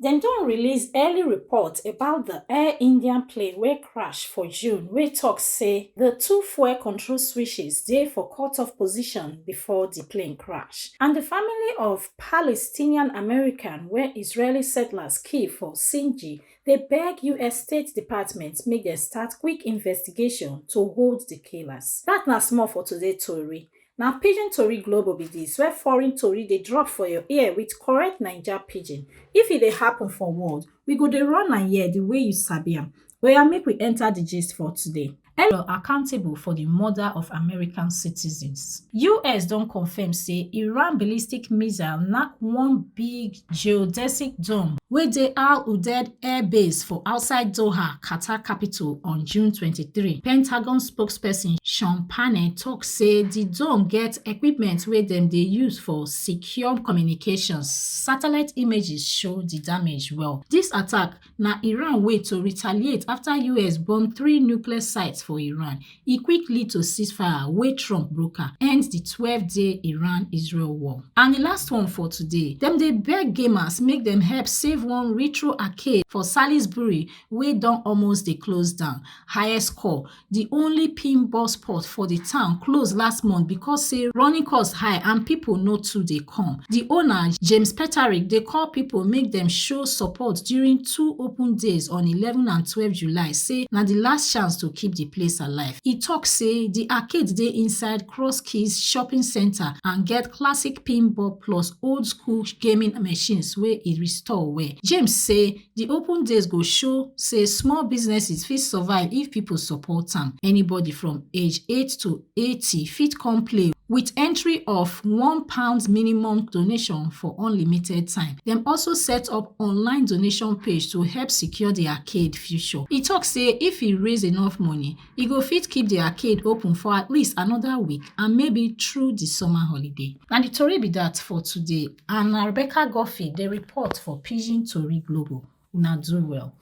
Dem don release early report about the Air India plane wey crash for June wey talk say the two fuel control switches dey for cut-off position before di plane crash, and di family of Palestinian American wey Israeli settlers kill for Sinji dey beg us State Department make dem start quick investigation to hold di killers. Dat na small for today tori, Na pidgin tori globo be dis where foreign tori dey drop for your ear with correct Naija pidgin. If e dey happen for world, we go dey run am here the way you sabi am. Oya make we enter the gist for today. Elon accountable for the murder of American citizens. US don confirm say Iran ballistic missile knack one big geodesic dome wey dey Al Udeid Air Base for outside Doha, Qatar capital on June 23. Pentagon spokesperson Sean Parney tok say di dome get equipment wey dem dey use for secure communications. Satellite images show di damage well. Dis attack na iran way to retaliate afta us bomb three nuclear sites for iran e quick lead to ceasefire wey trump broker end di twelve day iran-israel war. and di last one for today dem dey beg gamers make dem help save one retro arcade for salisbury wey don almost dey close down highest score di only pin bus port for di town close last month becos say running cost high and pipo no too dey come di owner james petarik dey call pipo make dem show support during two open days on eleven and twelve july say na di last chance to keep di place alive e tok say di arcade dey inside cross keys shopping centre and get classic pinball plus old school gaming machines wey e restore well james say di open days go show say small businesses fit survive if people support am anybody from age 8 to 80 fit come play with entry of one pound minimum donation for unlimited time dem also set up online donation page to help secure di arcade future e tok say if e raise enough money e go fit keep di arcade open for at least anoda week and maybe through di summer holiday na di tori be dat for today and na rebecca guffey dey report for pidgin tori global una do well